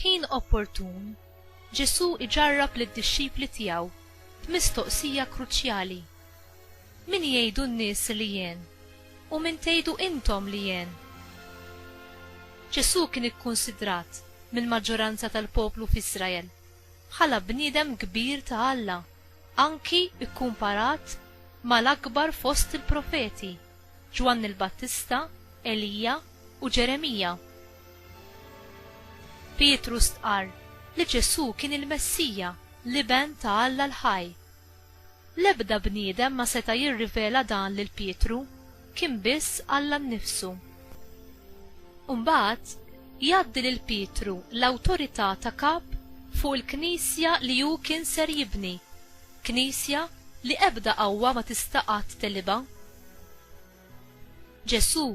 F'ħin opportun, Ġesù iġarrab lid-dixxipli tiegħu b'mistoqsija kruċjali, Min jgħidu n-nies li jien? U min tgħidu intom li jien? Ġesù kien ikkunsidrat mill-maġġoranza tal-poplu f'Iżrael bħala bniedem kbir ta' Alla, anki kkumparat ma' l-akbar fost il-profeti, Ġwanni l-Battista, Elija, u Ġeremija. Pietru stqarr li Ġesù kien il-Messija, l-Iben ta' Alla l-ħaj. L-ebda bniedem ma seta' jirrivela dan lil Pietru, kien biss Alla nnifsu. U mbagħad, jgħaddi lil Pietru l-awtorità ta' Kap fuq il-Knisja li hu kien ser jibni, Knisja li ebda qawwa ma tista' qatt tegħlibha. Ġesù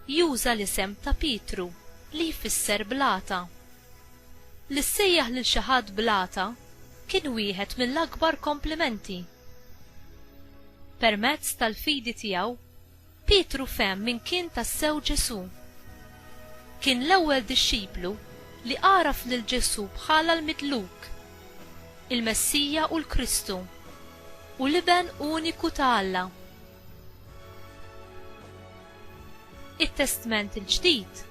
juża l-isem ta' Pietru, li jfisser blata. Li ssejjaħ lil xi ħadd blata kien wieħed mill-akbar komplimenti. Permezz tal-fidi tiegħu, Pietru fehem min kien tassew Ġesù. Kien l-ewwel dixxiplu li għaraf lil Ġesù bħala l-Midluk, il-Messija u l-Kristu, u l-Iben uniku ta' Alla. It-Testment il-Ġdid,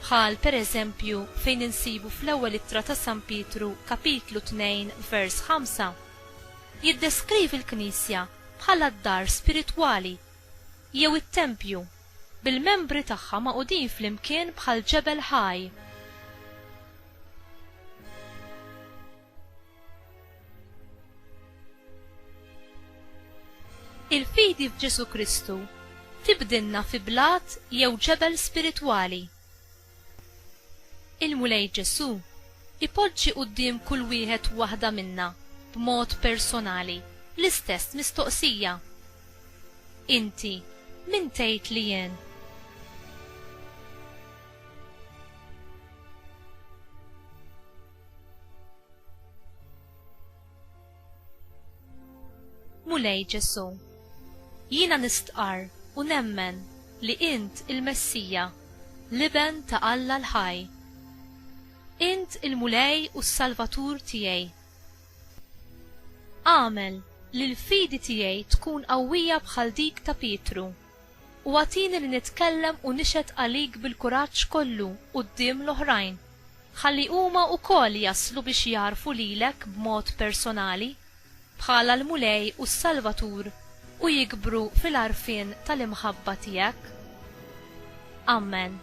bħal pereżempju fejn insibu fl-Ewwel Ittra ta' San Pietru kapitlu 2 vers 5, jiddeskrivi l-Knisja bħala d-dar spiritwali, jew it-tempju, bil-membri tagħha magħqudin flimkien bħal ġebel ħaj. Il-fidi f'Ġesù Kristu tibdilna fi blat jew ġebel spiritwali. Il-Mulej Ġesù jpoġġi quddiem kull wieħed u waħda minna b'mod personali l-istess mistoqsija, Inti min tgħid li jien? Mulej Ġesu', jiena nistqarr u nemmen li int il-Messija, l-Iben ta' Alla l-ħaj. Int il-Mulej u s-Salvatur tiegħi. Agħmel li l-fidi tiegħi tkun qawwija bħal dik ta' Pietru. U agħtini li nitkellem u nixhed għalik bil-kuraġġ kollu quddiem l-oħrajn, ħalli huma wkoll jaslu biex jagħrfu lilek b'mod personali, bħala l-Mulej u s-Salvatur u jikbru fil-għarfien tal-imħabba tiegħek. Amen.